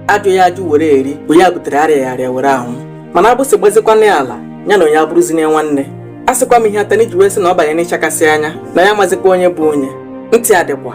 ajụghị ajụ were eri bụ ya butere arịaghị arịa were anwụ mana agbụsị gbazikwana ya ala ya na onye abụrụzine nwanne a sịkwa m ihe atani ji wee sị na ọ banye n'ịchakasị anya na ya amazikwa onye bụ onye ntị adịkwa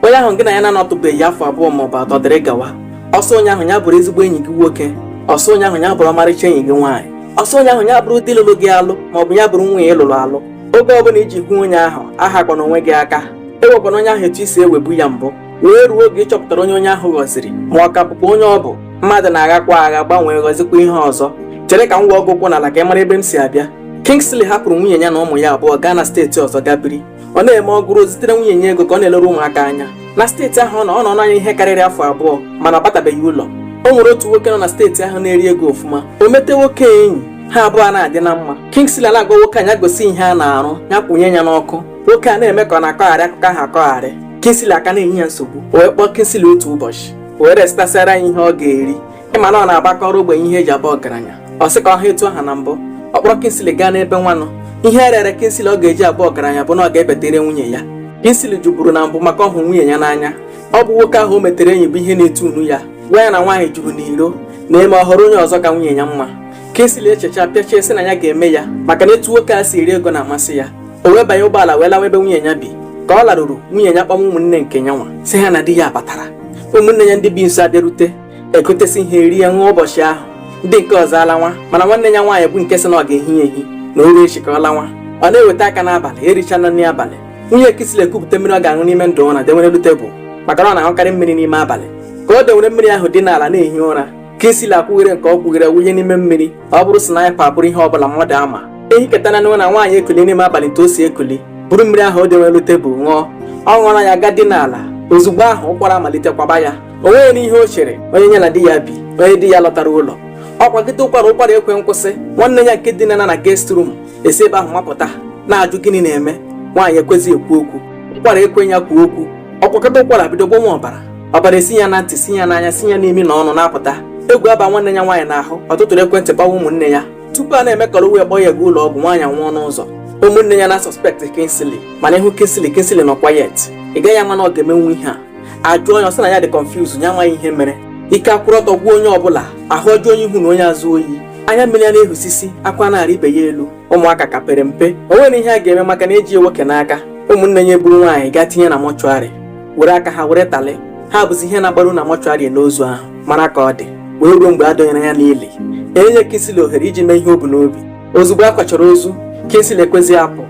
onye ahụ gị na ya na-anọtụbeghị afọ abụọ ma ọ bụ atọ dịrị gawa ọ sọ onye ahụ ya bụrụ ezigbo enyi gị nwoke ọ sọ onye ahụ ya bụrụ ọmarịcha enyi gị nwaanyị ọ sọ onye ahụ ya bụrụ di lụrụ gị alụ ma ọ bụ ya bụrụ nwunye ị lụrụ alụ oge ọbụla i ji hụ onye ahụ ahakwana onwe gị aka ewekwana onye ahụ etu i si ewebu ya mbụ wee ruo oge ị chọpụtara onye onye ahụ ghọziri ma ọ ka bụkwa onye ọ bụ mmadụ na-aghakwa agha gbanwee ghọzikwa ihe ọzọ chere ka m gwa ọgwụ ụkwụ n'ala ka ị mara ebe m si abịa Kingsley hapụrụ nwunye ya na ụmụ ya abụọ gaa na steeti ọzọ gaa biri ọ na-eme ọ gụrụ zitere nwunye ya ego ka ọ na-elere ụmụaka anya na steeti ahụ ọ nọ ọ nọọna ya ihe karịrị afọ abụọ mana ọ batabeghị ụlọ o nwere otu nwoke nọ na steeti ahụ na-eri ego ọfụma o mete nwoke enyi ha abụọ na-adị na mma Kingsley na-agwa nwoke a ya gosi ihe a na-arụ ya kwụnye ya n'ọkụ nwoke a na-eme ka ọ na-akọgharị akụkọ ahụ akọgharị Kingsley a ka na-enye ya nsogbu o wee kpọọ Kingsley otu ụbọchị o wee resịtasịara ya ihe ọ ga-eri ị ma na ọ na-agbakọrọ ogbenye ihe e ji abụ ọgaranya ọ sị ka ọ ha etu ọ ha na mbụ ọ kpọrọ Kingsley gaa n'ebe nwanụ ihe e rere Kingsley ọ ga-eji abụ ọgaranya bụ na ọ ga-ebetere nwunye ya Kingsley jụburu na mbụ maka ọ hụ nwunye ya n'anya ọ bụ nwoke ahụ o metere enyi bụ ihe na-etu unu ya gwa ya na nwaanyị juru n'iro na e mee ọ họrọ onye ọzọ ka nwunye ya mma Kingsley echecha pịachaa sị na ya ga-eme ya maka na etu nwoke a si eri ego na-amasị ya o wee banye ụgbọala wee lawa ebe nwunye ya bi ka ọ laruru nwunye ya kpọwa ụmụnne nke ya nwa sị ha na di ya batara ụmụnne ya ndị bi nso abịarute egotesị ihe e rie a ṅụa ụbọchị ahụ ndị nke ọzọ alawa mana nwanne ya nwaanyị bụ nke sị na ọ ga-ehi ya ehi na o rue echi ka ọ lawa ọ na-eweta aka n'abalị e richana nri abalị nwunye Kingsley ekupụta mmiri ọ ga-aṅụ n'ime ndụ ụra dewere elu tebụl maka na ọ na-aṅụkarị mmiri n'ime abalị ka o dewere mmiri ahụ dina ala na-ehi ụra Kingsley akwụghere nke ọ kwụghere wụnye n'ime mmiri ọ bụrụ sniper ọ bụrụ ihe ọbụla mmadụ ama e hiketana n'ụra na nwaanyị ekuli n'ime abalị etu o si ekuli buru mmiri ahụ o dewere elu tebụl ṅụọ ọ ṅụọla ya gaa dina ala ozugbo ahụ ụkwara amalite kwaba ya o nweghị n'ihe o chere onye ya na di ya bi onye di ya lọtara ụlọ ọ kwagide ụkwara ụkwara ekwe nkwụsị nwanne ya nke dinana na guest room esi ebe ahụ mapụta na-ajụ gịnị na-eme nwaanyị ekwezi ekwu okwu ụkwara ekwe ya kwuo okwu ọ kwagide ụkwara bido gbọnwa ọbara ọbara esi ya na ntị si ya n'anya si ya n'imi na ọnụ na-apụta egwu aba nwanne ya nwaanyị n'ahụ ọ tụtụrụ ekwentị kpọwa ụmụnne ya tupu a na-eme ka o wee kpọọ ya gaa ụlọ ọgwụ nwaanyị nwụọ n'ụzọ ụmụnne ya na-asuspect Kingsley mana ị hụ Kingsley Kingsley nọ quiet ị gaghị ama na ọ ga-emenwu ihe a a jụọ ya ọ sị na ya dị confused ya amaghị ihe mere ike akwụrụ ọtọ gwụ onye ọbụla ahụ ajụọ onye ihu na onye azụ oyi anya mmiri ya na-ehusisi akwa na-arị ibe ya elu ụmụaka ka pere mpe o nwere ihe a ga-eme maka na eji nwoke n'aka ụmụnne ya eburu nwaanyị gaa tinye na mọchụarị were aka ha were talị ha bụzi ihe na-agbaru na mọchụarị n'ozu ahụ mara ka ọ dị wee ruo mgbe a dọnyere ya n'ili enyeghị Kingsley ohere iji mee ihe o bu n'obi ozugbo a kwachara ozu Kingsley ekwezighị apụ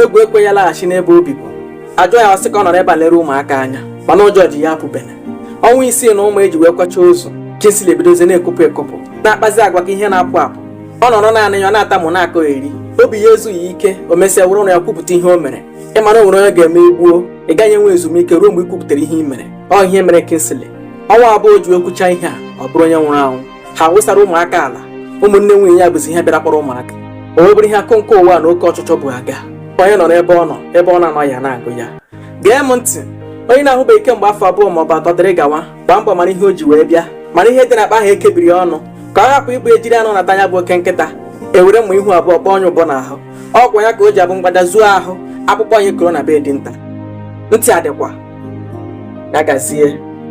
egwu ekwe ya laghachi n'ebe o bibu a jụọ ya ọ sị ka ọ nọrọ ebe a lere ụmụaka anya mana ụjọ ji ya apụbe n'ọnwa isii na ụma eji wee kwacha ozu Kingsley ebidozie na-ekopụ ekopụ na-akpazi agwa ka ihe na-apụ apụ ọ nọrọ naanị ya ọ na-atamụ na-akọgheri obi ya ezughị ike o mesịa were ọnụ ya kwupụta ihe o mere ị ma na o nwere onye ga-eme i gbuo ị gaghị enwe ezumike ruo mgbe ị kwupụtara ihe ị mere ọ ihe mere Kingsley ọnwa abụọ o ji ekwucha ihe a ọ bụrụ onye nwụrụ anwụ ha wụsara ụmụaka ala ụmụnne nwunye ya bụzi ihe bịara kpọrọ ụmụaka o wee bụrụ ihe akụ nke ụwa na oke ọchịchọ bụ aga onye nọrọ ebe ọ nọ ebe ọ na-anọghị na-agụ ya gee m ntị onye na-ahụbeghị kemgbe afọ abụọ ma ọ bụ atọ dịrị gawa gbaa mbọ mara ihe o ji wee bịa mara ihe dị na akpa ahụ ekebiri ọnụ ka ọ hapụ ịbụ ejiri anụ nata ya bụ oke nkịta ewere mma ihu abụọ kpọọ onye ụbọ n'ahụ ọ kwa ya ka o ji abụ mgbada zuo ahụ akpụkpọ anyị koro na be dinta ntị adịkwa ya gazie